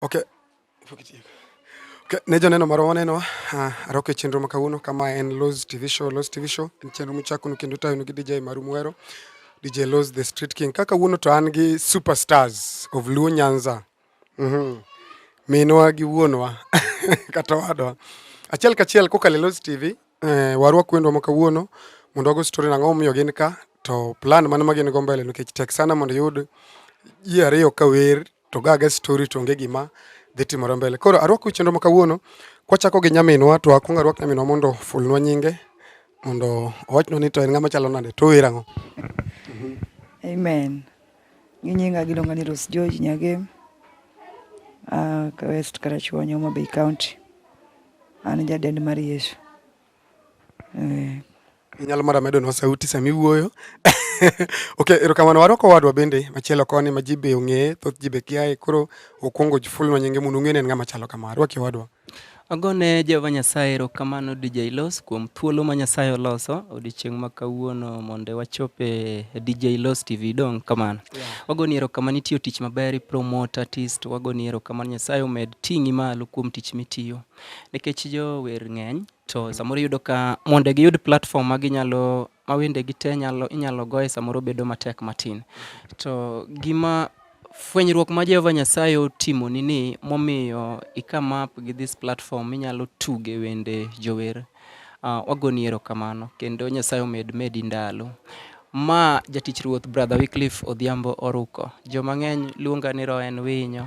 Okay. Okay. Ne joneno marwa waneno uh, ah, roke chenro ma kawuono kama en Loz TV show. Loz TV show en chenro muchakunu kendo tayonu gi DJ Maru Mwero, DJ Loz the Street King. Kaka wuono to an gi superstars of Luo Nyanza. Mhm. Mm Minwa gi wuonwa kata wadwa. Achiel kachiel kokalo Loz TV eh, warwa kwendwa ma kawuono mondo wago story nang'o momiyo gin ka to plan mano ma gin go mbele nikech tek sana mondo yud ji ariyo ka wer to ga ga story to onge gima dhi timore mbele. Koro arwako chenro ma kawuono kwachako gi nyaminwa to akwong arwak nyaminwa mondo ofulnwa nyinge mondo owachnwa ni to en ng'ama chalo nade to owera ang'o. Amen. Gi nyinga giluonga ni Rose George Nyagem. Uh, West Karachuonyo, Homa Bay County. An jadend mar Yesu. Eh. Inyalo mara medo nwa sauti sami wuoyo. okay, erokamano warwako wadwa bende machielo koni ma ji be ong'eye, thoth ji be kiaye, koro okwongo jifulnwa nyinge mondo ung'e ni en ng'ama chalo kama. Arwaki wadwa. Agone Jehova Nyasaye erokamano DJ Los kuom thuolo ma Nyasaye oloso odiochieng' ma kawuono mondo wachop e DJ Los TV dong' kamano. Yeah. Wagoni erokamano itiyo tich maber, ipromote artist, wagoni erokamano Nyasaye omed ting'i malo kuom tich mitiyo. Nikech jower ng'eny to mm-hmm. samoro iyudo ka mondo giyud platform ma ginyalo ma wendegi te nyalo inyalo goye samoro bedo matek matin. Mm-hmm. To gima fwenyruok ma Jehova Nyasaye otimo ni ni momiyo ikama up gi this platform inyalo tuge wende jower. Uh, wagoni erokamano kendo Nyasaye omed medi ndalo. Ma jatich Ruoth Brother Wycliffe Odhiambo Oruko. Jomang'eny luonga ni Roen Winyo.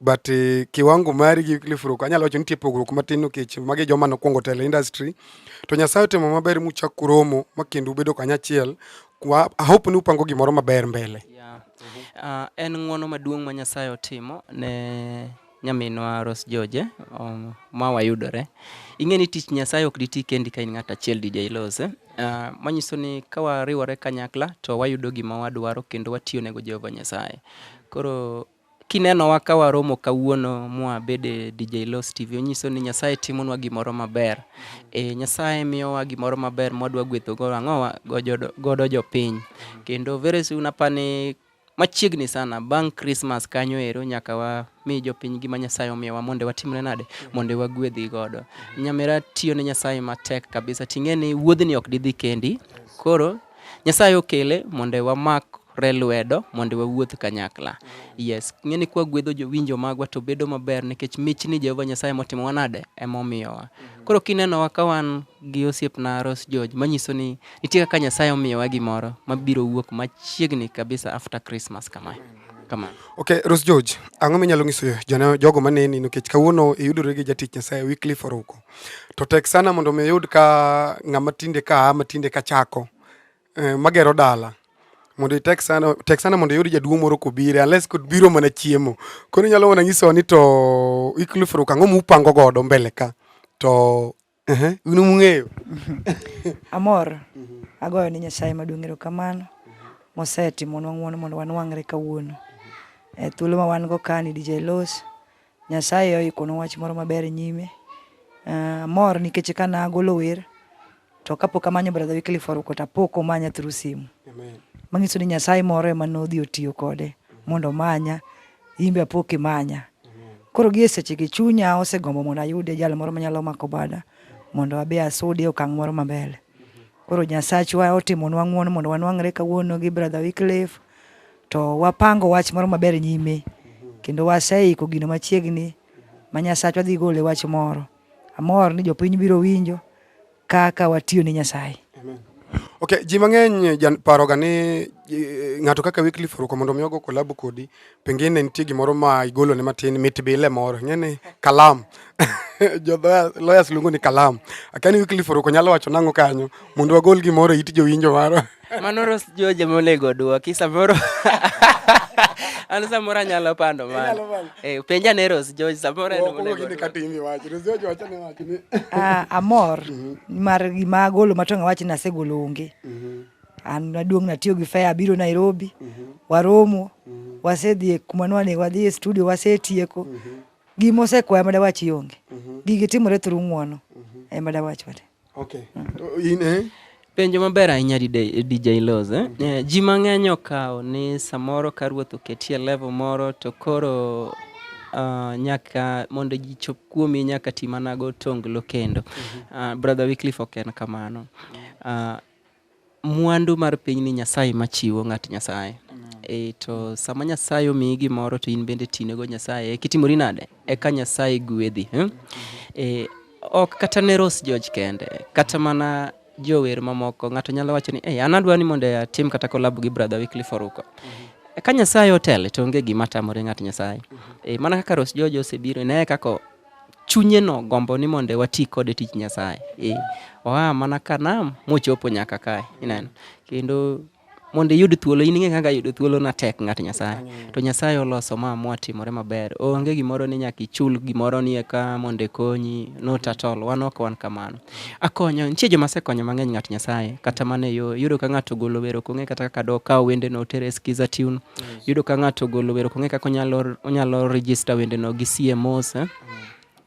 but uh, kiwango mari gi Cliff Rock anyalo wacho nitie pogruok matin nikech magi joma nokwongo tele industry to Nyasaye otimo maber muchak kuromo ma kendo ubedo kanyachiel kwa hope ni upango gimoro maber mbele yeah. uh, en ng'wono maduong' ma Nyasaye otimo ne nyaminwa Rose George um, ma wayudore ing'e ni tich Nyasaye ok diti kendi ka in ng'at achiel DJ Lose uh, manyiso ni ka wariwore kanyakla to wayudo gima wadwaro kendo watiyo nego Jehova Nyasaye koro Kinenowa ka waromo kawuono mwa bede DJ Los TV, onyiso ni Nyasaye timonwa gimoro maber. E, Nyasaye miyowa gimoro maber mwadwa gwetho godo ang'owa godo jopiny. Kendo very soon apani machiegni sana bang' Christmas kanyo ero nyaka wa mi jopiny gima Nyasaye omiyowa mondo watimre nade mondo wagwedhi godo. Nyamera tiyo ne Nyasaye matek kabisa ting'e ni wuodhni ok didhi kendi. Koro Nyasaye okele mondo wamak re lwedo mondo wawuoth kanyakla. Yes, ng'eni kwa gwedho jowinjo magwa to bedo maber nikech mich ni Jehova Nyasaye motimo wanade ema omiyowa. Koro kinenowa ka wan gi osiepna Rose George manyiso ni nitie kaka Nyasaye omiyowa gimoro mabiro wuok machiegni kabisa after Christmas kama. Kama. Okay, Rose George, ang'o minyalo nyiso jana jogo maneni nikech kawuono iyudore gi jatich Nyasaye Wycliffe Oruko. To tek sana mondo mi oyud ka ng'ama tinde ka matinde ka chako eh, magero dala mondo itek sana tek sana mondo iyud jaduong' moro kobire unless kod biro mana chiemo koro inyalo mana nyisowa ni to iklufuru kang'o mupango godo mbele ka to ehe, un mung'eyo Amor, agoyo ni Nyasaye maduong' erokamano mosetimonwa ng'wono mondo wanwang're kawuono. E thuolo ma wan go kani DJ Los, Nyasaye oikonwa wach moro maber nyime. Uh, amor nikech ka nagolo wer to kapok amanyo brother Wycliffe Oruko to apok omanya through simu. Amen. Manyiso ni Nyasaye moro ema nodhi otiyo kode mondo omanya, imbe apok imanya. Koro gie seche gi chunya osegombo mondo ayude jal moro manyalo mako bada mondo abi asudi okang' moro mabele. Koro Nyasachwa otimonwa ng'uono mondo wanwang're kawuono gi brother Wycliffe To wapango wach moro maber nyime kendo waseiko gino machiegni ma Nyasachwa dhi gole wach moro. Amor ni jopiny biro winjo kaka watiyo ne Nyasaye. Okay, ji mang'eny paroga ni eh, ng'ato kaka Wycliffe Oruko mondo mi ogo kolabo kodi, pengine nitie gimoro ma igolo ne matin mit bile moro, ng'eni kalam jo lawyers luongo ni kalam. Akani Wycliffe Oruko nyalo wacho nang'o kanyo mondo wagol gimoro e it jowinjo maro. Manoro sijui joma onego odwoki samoro an samoro anyalo pando mano. Eh, penja ne Rose George samoro en onego odwoki. Ah, amor mhm. mar gima agolo matong' awachi ni asegolo onge. Mhm. An naduong' natiyo gi fare abiro Nairobi, mhm. waromo, wasedhi e kuma nwanego wadhi e studio wasetieko. Gima osekwaya madawachi onge. Gigi timore through ng'wono. Ema dawachi wate. Okay. In, eh? Penjo maber ahinya DJ Loz. Eh? Mm-hmm. Eh, ji mang'eny okawo ni samoro ka ruoth oketie level moro to koro uh, nyaka mondo ji chop kuomi nyaka ti mana go tonglo kendo. Mm -hmm. uh, Brother Wycliffe ok en kamano. Uh, Mwandu mar piny ni Nyasaye ma chiwo ng'at Nyasaye. E, to sama Nyasaye omiyi gimoro to in bende tinego Nyasaye kitimori nade eka Nyasaye gwedhi eh? E, ok kata ne Rose George kende kata mana jower mamoko ng'ato nyalo wacho ni hey, an adwa ni mondo atim kata kolab gi brother Wycliffe Oruko mm -hmm. ka Nyasaye otele to onge gima tamore ng'at Nyasaye mm -hmm. e, mana kaka Rose George osebiro ne kaka chunyeno gombo ni mondo wati kode e tich Nyasaye. E, oa mana ka nam mochopo nyaka kae. Ineno. Kendo mondo iyud thuolo in ing'e kaka yudo thuolo na tek ng'at Nyasaye. To Nyasaye oloso ma mwatimore maber. Onge gimoro ni nyaka ichul gimoro ni eka mondo konyi not at all. Wan ok wan kamano. Akonyo nitie joma sekonyo mang'eny ng'at Nyasaye kata mana e yo yudo ka ng'ato ogolo wero kong'e kata kaka do kawo wende no tere skiza tune yudo ka ng'ato ogolo wer ok ong'e kaka onyalo onyalo register wendeno gi CMOs eh?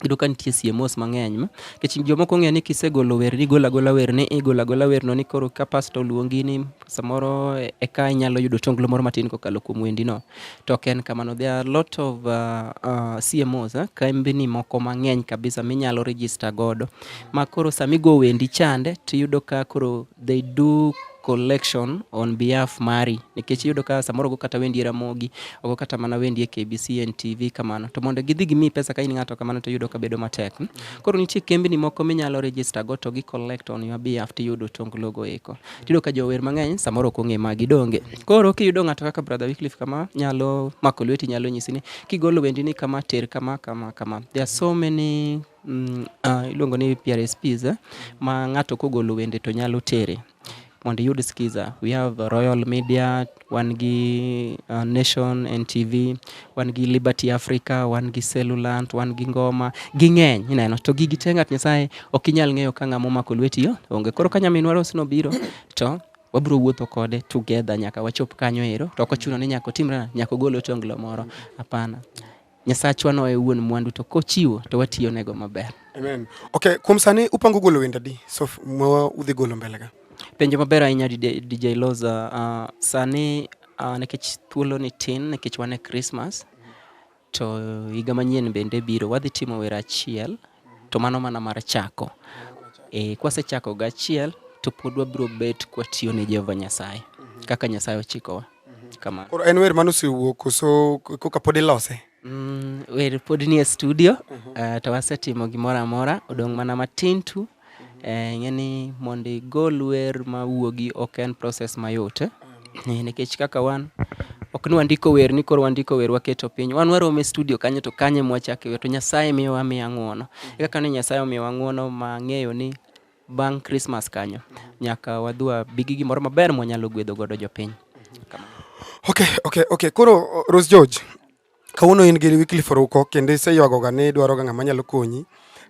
yudo ka nitie CMOs mang'eny ma nikech jomoko ong'eyo ni kisegolo wer ni igolo agola wer ni igolo agola wer no ni koro ka pasta oluongi ni samoro e- eka inyalo yudo tonglo moro matin kokalo kuom wendi no to ok en kamano there are a lot of uh, uh, CMOs eh? kembni moko mang'eny kabisa minyalo register godo ma koro samigo wendi chande tiyudo ka koro they do collection on behalf mari nikech iyudo ka samoro go kata wendi e Ramogi ogo kata mana wendi e KBC NTV kamano to mondo gidhi gimi pesa ka in ng'ato kamano to iyudo ka bedo matek hmm? koro nitie kembni moko minyalo register go to gi collect on your behalf to iyudo tong logo eko tiyudo ka jower mang'eny samoro ok ong'e magi donge koro kiyudo ng'ato kaka brother Wycliffe kama nyalo mako lweti nyalo nyisi ni kigolo wendi ni kama ter kama kama kama there are so many Mm, uh, iluongo ni PRSPs eh? ma ng'ato kogolo wende to nyalo tere mondo iyud skiza. We have Royal Media, wan gi uh, Nation NTV, wan gi Liberty Africa, wan gi Cellulant, wan gi Ngoma, ging'eny ineno. To gigi te ng'at Nyasaye ok inyal ng'eyo ka ng'ama omako lweti yo onge. Koro ka nyaminwa Rose nobiro to wabiro wuotho kode together nyaka wachop kanyo ero. To ok ochuno ni nyaka otimre nyaka ogol otonglo moro, hapana. Nyasachwa no e wuon mwandu to kochiwo to watiyo nego maber. Amen. Okay, kuom sani upango golo wenda di so mwa udhi golo mbele ga. Penjo maber ahinya DJ Loza. Uh, sani uh, nikech thuolo ni tin nikech wane Christmas to higa manyien bende biro wadhi timo wera achiel to mano mana mar chako. E, kwasechako gachiel to pod wabiro bet kwatiyo ne Jehova Nyasaye kaka Nyasaye ochikowa. Kamano. Koro en wer mane osewuok koso koka pod ilose? Mm, wer pod nie studio uh mhm. -huh. uh, to wasetimo gimoro amora odong' mana matin tu uh -huh. eh, ing'e ni mondo igol wer ma wuogi ok en proses mayot eh? eh, nikech kaka wan ok ni wandiko wer ni koro wandiko wer waketo piny wan warome studio kanyo to kanye mwachake wer to nyasaye miyowa miya ng'uono uh mhm. -huh. kaka ni nyasaye omiyowa ng'uono ma ng'eyo ni Bang' Christmas kanyo, nyaka wadhi wabi gi gimoro maber mwanyalo gwedho godo jopiny. Okay, okay, okay. Koro Rose George, kawuono in gi Wycliffe Oruko kendo iseywagoga ni idwaroga ng'ama nyalo konyi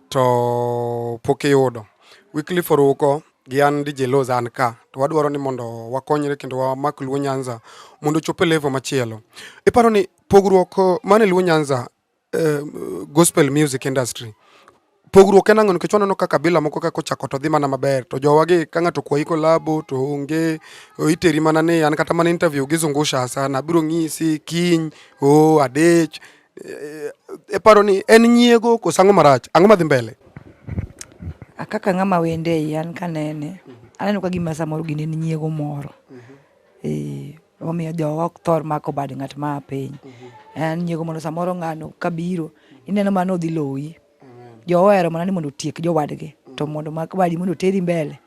to pok iyudo. Wycliffe Oruko gi an DJ Loz an ka to wadwaro ni mondo wakonyre kendo wamak Luo Nyanza mondo ochop e level machielo. Iparo ni pogruok mane Luo Nyanza eh, gospel music industry pogruok en ang'o nikech waneno ka kabila moko kaka ochako to dhi mana maber to jowagi ka ng'ato kwayi kolabo to onge iteri mana ni an kata mana interview gi zungusha sana biro ng'isi kiny o adech eh, e paro ni en nyiego koso ang'o marach ang'o madhi mbele kaka ng'ama wende an kanene aneno ka gima samoro gini en nyiego moro mhm. eh, Omiyo jowa ok thor mako bad ng'at ma a piny. En nyiego mondo samoro ng'ano kabiro, ineno mano odhi loyi. Jowa ohero mana ni mondo otiek jowadgi, to mondo mak badi mondo oteri mbele,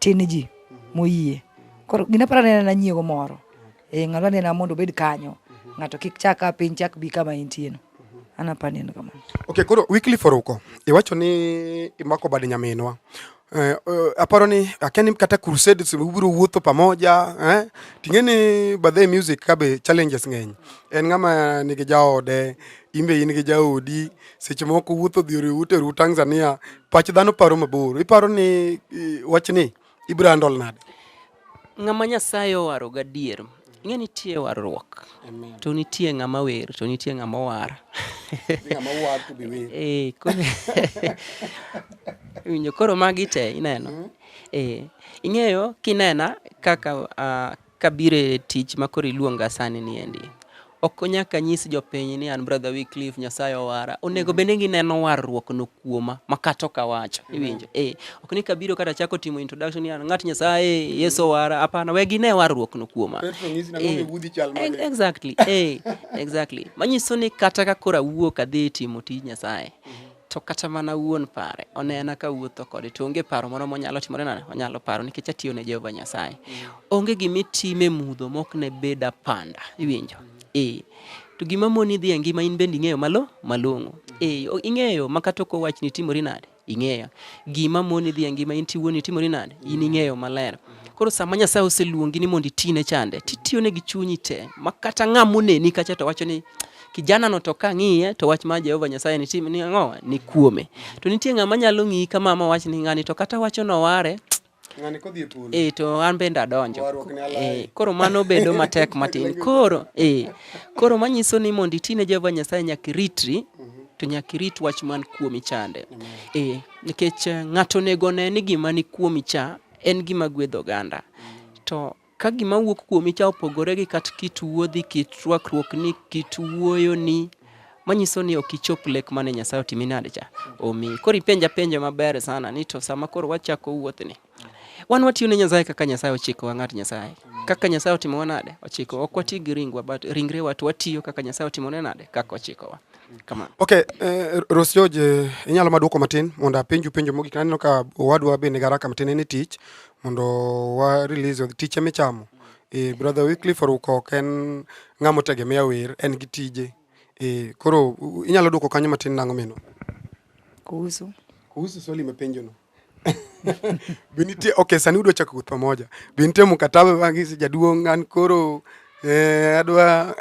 tin ji moyie. Koro gina para nena na nyiego moro. Eh, ng'ano anena mondo obed kanyo. Ng'ato kik chak a piny chak bi kama intieno. an apani en kamano okay koro weekly for uko iwacho ni imako bad nyaminwa Eh, eh, aparo ni akia ni kata crusade ubiro wuotho pamoja eh? ting'e ni badhe music kabe challenges ng'eny en ng'ama nigi jaode imbe in gi jaodi seche moko wuotho dhi oriwu teru tanzania pach dhano paro mabor iparo ni eh, wachni ibiro handle nade Ng'ama Nyasaye owaro gadier, ing'e nitie warruok, to nitie ng'ama wer, to nitie ng'ama owar. Ng'ama owar to be wer. Eh, winjo koro magi te ineno. Mm-hmm. Eh, ing'eyo kinena kaka uh, kabire tich makoro iluonga sani niendi Ok nyaka nyis jopiny ni an brother Wycliffe Nyasaye owara. Onego mm. bende gineno warruok no kuoma makato kawacho. Mm. Iwinjo? Eh, ok ni kabiro kata chako timo introduction ni an ng'at Nyasaye, mm. Yesu owara. Hapana, we gine warruok no kuoma. Eh, exactly. Eh, exactly. Manyiso ni kata ka kora wuok adhi timo tij Nyasaye. Mm-hmm. to kata mana wuon pare onena ka wuotho kode to onge paro moro monyalo timore nade onyalo paro nikech atiyo ne Jehova Nyasaye onge gima itime mudho mok ne bed apanda iwinjo eh to gima moni dhi e ngima in bende ing'eyo malo malong'o eh ing'eyo ma kata ok owach ni timori nade ing'eyo gima moni dhi e ngima in tiwuoni timori nade in ing'eyo maler koro sama Nyasaye oseluongi ni mondo itine chande titiyone gi chunyi te ma kata ng'ama oneni kacha to wacho ni kijana no to kang'iye to wach ma Jehova Nyasaye ni tim ni ang'o ni kuome. To nitie ng'ama nyalo ng'iyi kama ma wach ni ng'ani to kata wacho no ware ng'ani kodhi e polo eh to an bende adonjo eh koro mano bedo matek matin koro eh koro manyiso ni mondo iti ne Jehova Nyasaye nyaka iritri mhm. to nyaka irit wach man kuomi chande eh nikech eh, ng'ato onego ne ni gima ni kuomi cha en gima gwedho oganda mm. to Ka gima wuok kuomi cha opogore gi kat kit wuodhi, kit rwakruokni, kit wuoyoni, manyiso ni ok ichop lek mane Nyasaye otimi nade cha omi. Koro ipenja penjo maber sana ni to sama koro wachako wuothni wan watiyo ne Nyasaye kaka Nyasaye ochiko wa ng'at Nyasaye kaka Nyasaye otimo nade ochiko ok wati gi ringwa but ringrewa to watiyo kaka Nyasaye otimo ne nade kaka ochiko wa Kama. Okay, eh, Ros George, eh, inyalo madwoko matin mondo apenju penjo mogik. Aneno ka owadwa be nigi haraka matin en e tich mondo wa release tich ema ichamo. Eh, brother Wycliffe Oruko ok en ng'ama otegemea wer, en gi tije. Eh, koro u- inyalo dwoko kanyo matin nang'o mino? kuhusu Kuhusu swali imepenjono. binitie ok sani udwa chako guth pamoja binitie mkataba bangisi jaduong' an koro eh, adwa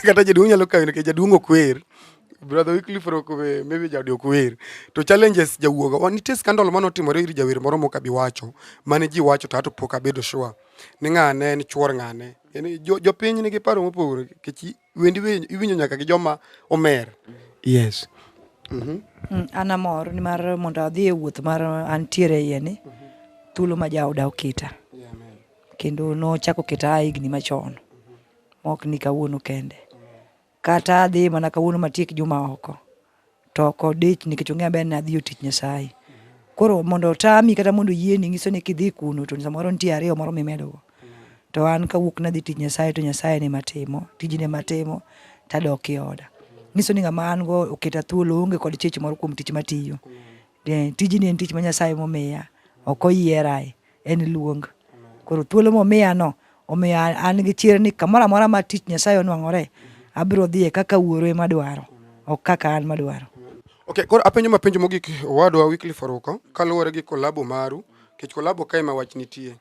kata jaduong' nyalo kawe nikech jaduong' ok wer brother Wycliffe Rokobe maybe jaodi ok wer to challenges jawuoga wa nitie scandal mane otimore ir jawer moro mok abi wacho mane ji wacho to ato pok abedo sure ni ng'ane en chuor ng'ane jopiny nigi paro mopogore nikech wendi iwinjo nyaka gi joma omer yes mm -hmm. mm, an amor nimar mondo adhi e wuoth mar antiere iye ni mm -hmm. thuolo ma jaoda oketa yeah, kendo nochako keta a higni machon mm -hmm. maok ni kawuono kende kata adhi mana kawuono matiek juma oko to ok odich nikech ong'eyo maber ni adhi yo tich Nyasaye. Koro mondo otami kata mondo yieni nyiso ni kidhi kuno to samoro nitie ariyo moro mimedogo. To an kawuok nadhi tich Nyasaye to Nyasaye ne matimo, tijne matimo tadok e oda. Nyiso ni ng'ama an go oketa thuolo onge kod chich moro kuom tich matiyo. Tijni en tich ma Nyasaye momiya, ok oyierae. En luong. Koro thuolo momiya no omiyo an gi chir ni kamoro amora ma tich Nyasaye onwang'ore abiro dhiye kaka wuoro ema dwaro ok kaka an madwaro. Okay, koro apenjo ma penjo mogik owadwa Wycliffe Oruko kaluwore gi kolabo maru kech kolabo kae ma wach nitie.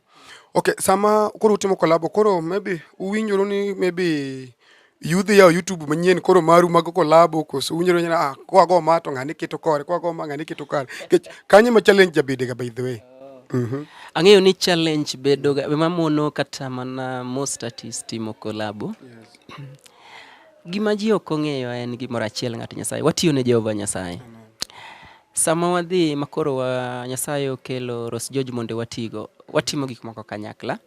Okay, sama koro utimo kolabo koro maybe uwinjoru ni maybe yudhi yawo YouTube manyien koro maru mago kolabo koso unyalo nyana ah kwa go ma to ngani keto kore kwa go ma ngani keto kare kech kanye ma challenge jabede ga by the way mhm ang'eyo ni challenge bedo ga ma mono kata mana most artist timo kolabo gima ji ok ong'eyo en gimoro achiel ng'at Nyasaye watiyo ne Jehova Nyasaye sama wadhi makoro wa Nyasaye okelo Ros George mondo watigo watimo gik moko kanyakla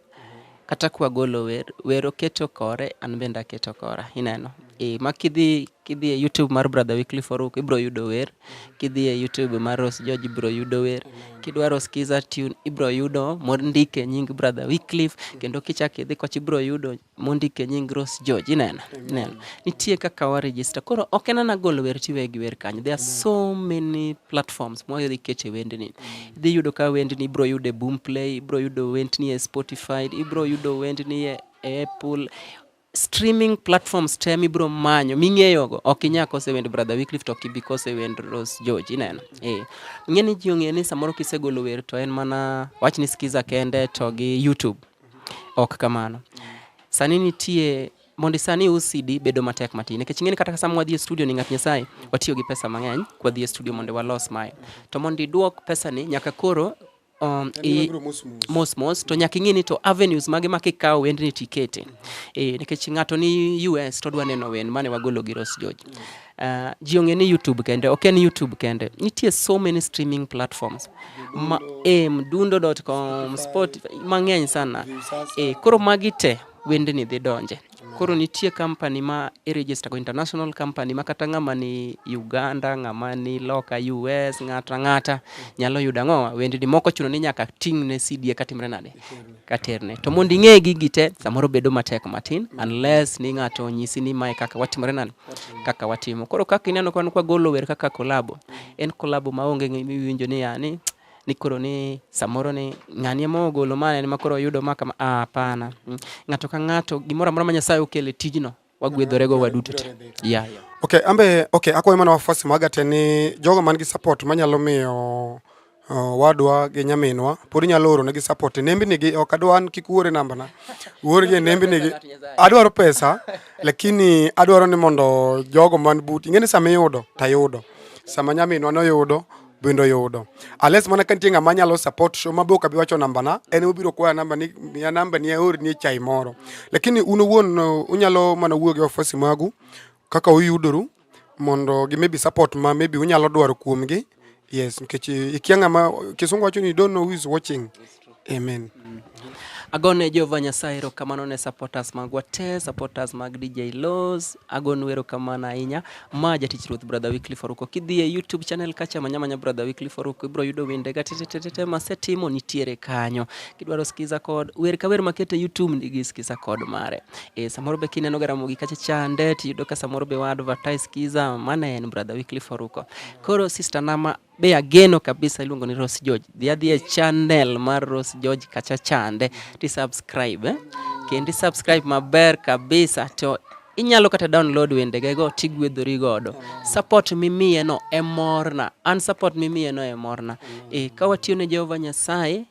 Kata kwa golo wer, wer oketo kore, an bende aketo kora. Ineno? E, ma kidhi kidhi e YouTube mar Brother Wycliffe Oruk ibro yudo wer, kidhi e YouTube mar Rose George ibro yudo wer, kidwaro skiza tune ibro yudo mondik e nying Brother Wycliffe kendo kichak idhi koch ibro yudo mondik e nying Rose George. Ineno? Ineno? Nitie kaka wa register. Koro ok en ana golo wer tiwe gi wer kanyo. There are so many platforms mwayudhi kete wendni. Idhi yudo ka wendni ibro yudo e Boomplay, ibro yudo wendni e Spotify, ibro yudo wendni e Apple streaming platforms te mibro manyo ming'eyogo ok inya kose wend brother Wycliffe to ok ibi kose wend Rose George ineno eh ng'e ni ji ong'e ni samoro kisegolo wer to en mana wach ni skiza kende to gi YouTube ok kamano sani nitie mondo isani ius CD bedo matek matin nikech ing'eni kata sama wadhi e studio ni ng'at Nyasaye watiyo gi pesa mang'eny kwa dhi e studio mondo walos mae to mondo iduok pesa ni nyaka koro um, i, mos mos to nyaka ing'e ni to avenues mage ma kikawo wendni tikete e, nikech ng'ato ni US to dwa neno wen mane wagolo gi Rose George uh, ji ong'e ni YouTube kende ok en YouTube kende nitie so many streaming platforms ma, e, mdundo.com Spotify mang'eny sana e, koro magi te wendni dhi donje. Koro nitie company ma i-register go, international company ma kata ng'ama ni Uganda, ng'ama ni loka US, ng'ata ng'ata nyalo yudo ang'owa wendni moko chuno ni nyaka ting'ne CD eka timre nade? Katerne. To mondo ing'e gigi te samoro bedo matek matin unless ni ng'ato onyisi ni mae kaka watimore nade? Kaka watimo. Koro kaka ineno kwan kwa golo wer kaka kolabo, en kolabo maonge ng'imiwinjo ni yani ni koro ni samoro ni ng'ani ema ogolo ma en ma koro oyudo ma kama ah, hapana mm. ng'ato ka ng'ato gimoro amora ma Nyasaye okele tijno wagwedhore go waduto te yeah, yeah. okay ambe okay akwayo mana wafuasi maga te ni jogo man gi support manyalo miyo Uh, wadwa gi nyaminwa pod inyalo oro negi support nembi nigi ok adwa an kik uore namba na uor gi nembi nigi adwaro pesa lakini adwaro ni mondo jogo man but ing'eni sama iyudo tayudo sama nyaminwa noyudo bendo yudo unless mana ka nitie ng'ama nyalo support show mabe ok abi wacho nambana en obiro kwaya namba ni miya namba ni aor ni chai moro lakini un owuon uh, unyalo mana wuoyo gi ofisi magu kaka uyudoru mondo gi maybe support ma maybe unyalo dwaro kuomgi yes nikech uh, ikia ng'ama kisungu wacho ni don't know who is watching Amen. Mm. Agone Jehova Nyasaye erokamano ne supporters magwa te, supporters mag DJ Laws. Agonu erokamano ahinya. Ma jatich Ruoth Brother Weekly Faruko. Kidhi e YouTube channel kacha manya manya Brother Weekly Faruko ibro yudo wende ga tetetete ma setimo nitiere kanyo. Kidwaro skiza kod wer ka wer makete YouTube ndigi skiza kod mare. E samoro be kineno garamo gi kacha chande tiyudo ka samoro be wa advertise skiza mane en Brother Weekly Faruko. Koro sister Nama be ageno kabisa iluongo ni Rose George. Dhi adhi e channel mar Rose George kacha chande ti subscribe eh? Kendi subscribe maber kabisa to inyalo kata download wendegego tigwedhori godo. Support mimiyeno e morna, an support mimiyeno e morna. E, ka watiyo ne Jehova Nyasaye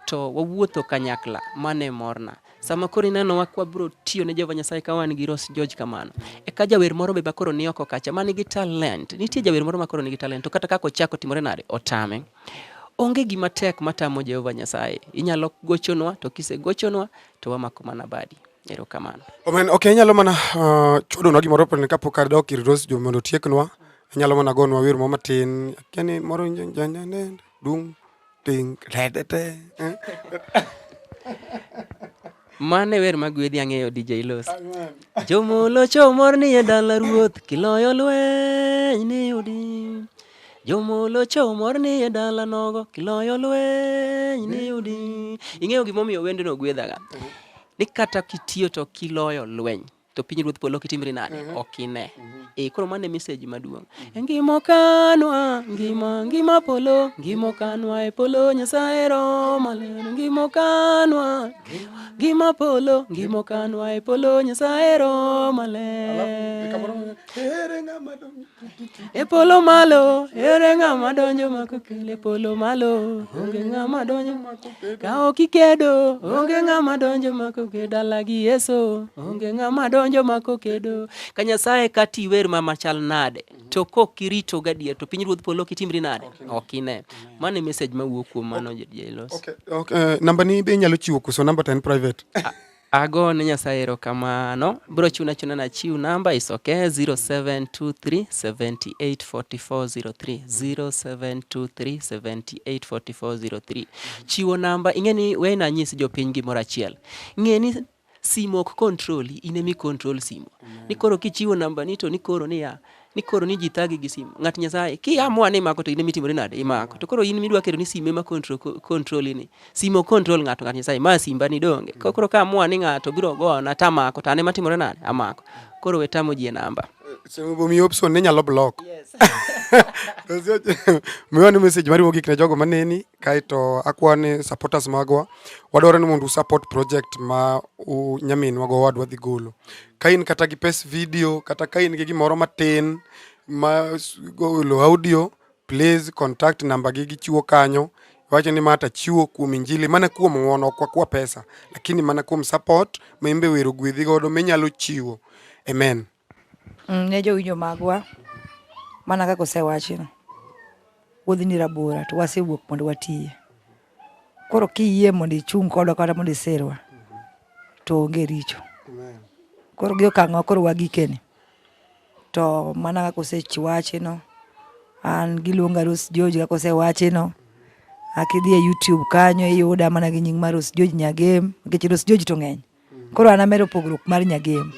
to wawuotho kanyakla, mano e morna. Sama koro inenowa ka wabiro tiyo ne Jehova Nyasaye ka wan gi Rose George kamano. Eka jawer moro be bakoro ni oko kacha ma nigi talent. Nitie jawer moro ma koro nigi talent to kata kaka ochako timore nade otame. Onge gima tek matamo Jehova Nyasaye. Inyalo gochonwa to kisegochonwa to wamako mana badi. Erokamano. Amen. Okay, inyalo mana uh, chodonwa gimoro pene kapok adok ir Rose George mondo otieknwa. Inyalo mana gonwa wer moro matin. Kani moro nyanyanyanyanyan dung' Ting, redete. Mane wer ma gwedhi ang'eyo DJ Los. Jomolo chomor ni e dala ruoth kiloyo lweny ni udi. Jomolo chomor ni e dala nogo kiloyo lweny ni udi. Ing'eyo gimomiyo wendno gwedhaga? Ni kata kitiyo to kiloyo lweny. to piny ruoth polo kitimri nade mm -hmm. ok ine mm -hmm. e koro mane message maduong mm -hmm. ngimo kanwa ngima ngima polo ngimo kanwa e polo nyasaye roma lero ngimo kanwa ngima polo ngimo kanwa e polo nyasaye roma lero E polo malo, ere ng'ama donjo mako kele e polo malo, onge ng'ama donjo mako kele. Ka ok ikedo, onge ng'ama donjo mako kele dala gi Yesu, onge ng'ama donjo mako kedo. Ka Nyasaye ka tiwer ma machal nade, to kok irito gadier to piny ruodh polo kitimri nade? Ok ine. Mano e message ma wuok kuom mano jailos. Okay, okay. Uh, namba ni be inyalo chiwo kuso namba to en private. Ah, Ago ne Nyasaye erokamano. Biro chuna achuna na chiw namba is okay 0723784403 0723784403. Chiwo namba ing'e ni we na nyis jopiny gimoro achiel. Ing'e ni simo ok control in emi control simo. Ni koro kichiwo namba ni to ni koro niya ni koro ni ji thagi gi simu ng'at nyasaye ki amua ni imako to in mitimore nade imako to koro in midwa keto ni sime ma control control ni simo control ng'ato ng'at nyasaye ma simba ni donge koro ka amua ni ng'ato biro go na tamako tane matimore nade amako koro wetamo ji e namba mi option ni nyalo block miwa ni message mariwo gik ne jogo maneni kaito akwa ni supporters magwa wadwaro ni mondo support project ma nyaminwa go wadwa dhi golo ka in kata gi pes video kata ka in gi gimoro matin ma golo audio please contact namba gi gichiwo kanyo wacho ni mata chiwo kuom injili mana kuom ng'wono kwa kwa pesa lakini mana kuom support ma imbe wero gwedhi godo minyalo chiwo amen Mm, ne jowinjo magwa mana kaka osewachi no wuodhi ni rabora to wasewuok mondo watiye koro kiyie mondo ichung' kodwa kata mondo iserwa to onge richo koro gi okang'wa koro wagikeni to mana kaka osewachi no an giluonga Rose George kaka osewachi no akidhi e YouTube kanyo iyuda mana gi nying mar Rose George Nyagem nikech Rose George to ng'eny Koro an amedo pogruok mar nyagem.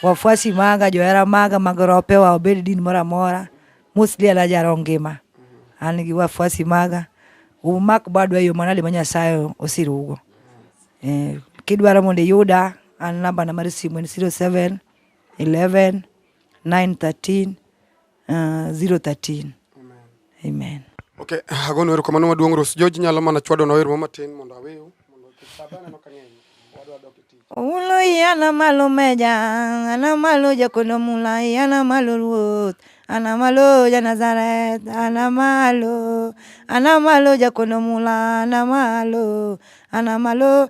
Wafuasi maga, johera maga mag ropewa obed din moro amora, mostly an ajaro ngima. An gi wafuasi maga, umak badu e yo manade ma Nyasaye osirugo. Eh, kidwaro mondo iyuda, an nambana mar simu en 07 11 9 13 Uh, 013. Amen. Amen. Okay, agono erokamano maduong' Rose George nyalo mana chwado na wer moro matin mondo awew mondo kisabana no kang'eny wadwa dok e tich. Ulo yana malo meja, ana malo jakono mula, yana malo ruoth. Ana malo ja Nazareth, ana malo, ana malo jakono mula, ana malo, ana malo.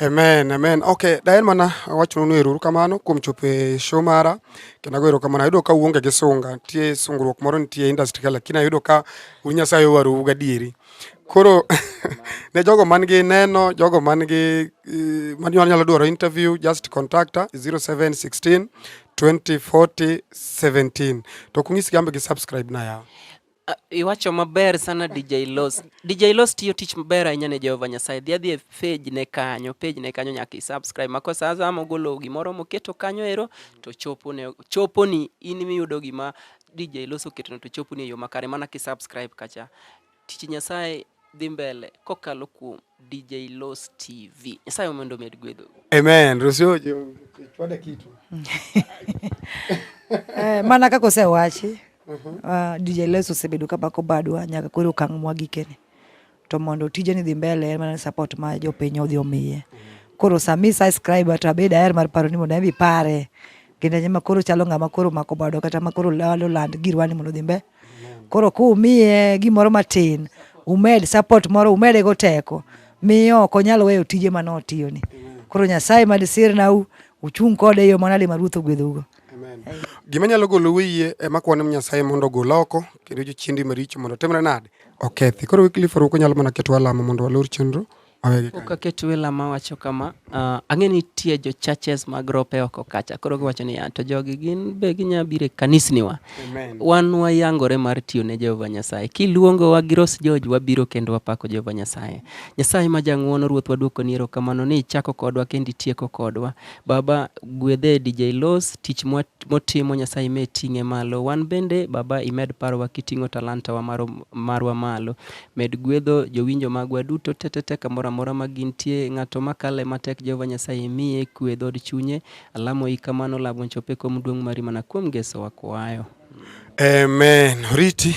Amen, amen. Okay, daher mana awachonu ni erokamano kuom chopo e show mara kendo ago erokamano. Ayudo ka uonge gi sunga, nitie sungruok moro nitie e industry ka lakini ayudo ka un Nyasaye owarou gadieri. Koro ne jogo man gi neno, jogo man gi eh, man nyalo dwaro interview, just contact 0716 2040 17. To kung'isgi ambe gi subscribe na yawa. Ah, iwacho maber sana DJ Los. DJ Los tiyo tich maber ahinya ne Jehova Nyasaye. Dhi adhi e page ne kanyo, page ne kanyo nyaka i-subscribe. Mako sa azama mogolo gimoro moketo kanyo ero to chopo ne chopo ni in miyudo gima DJ Los oketo to chopo ni e yo makare mana ki-subscribe kacha. Tich Nyasaye dhi mbele kokalo kuom DJ Los TV. Nyasaye mondo omed gwedho. Amen. Rusio chwada kitu. Eh, mana kaka osewachi uh -huh. uh, ah, DJ Los osebedo ka bako badwa nyaka koro okang' mwa gikene to mondo tije ni dhi mbele en mana support ma jopiny odhi omiye. Uh -huh koro sami subscribe to abed aher mar paro ni mondo abi pare kendo nyama koro chalo ngama koro mako bado kata ma koro lalo land girwani mondo dhimbe Koro kumiye gimoro matin, umed support moro, umede go teko, miyo ok onyal weyo tije mane otiyoni. Koro Nyasaye mad sirnau, uchung' kode e yo manade ma Ruoth ogwedhougo. Gima nyalo golo wiye ema kwane Nyasaye mondo ogol oko kendo jochiendi maricho mondo otimre nade? Okethi. Koro Wycliffe Oruko nyalo mana keto alama mondo walor chenro Pok aket wela ma wacho kama, uh, ang'e ni nitie jo churches mag rope oko kacha. Koro giwacho niya, to jogi gin be ginya bire kanisniwa. Amen. Wan wayangore mar tiyo ne Jehova Nyasaye. Kiluongo wa gi Ros George wabiro kendo wapako Jehova Nyasaye. Nyasaye ma jang'wono ruoth waduoko ni erokamano ni ichako kodwa kendo itieko kodwa. Baba gwedhe DJ Los tich motimo Nyasaye me ting'e malo. Wan bende baba imed parowa kiting'o talanta wa marwa malo. Med gwedho jowinjo magwa duto tetete kamoro amora ma gintie. Ng'ato ma kale matek Jehova Nyasaye miye kwe dhood chunye. Alamo i kamano lamo chope kom duong' mari mana kuom Geso wakwayo. Amen. Oriti.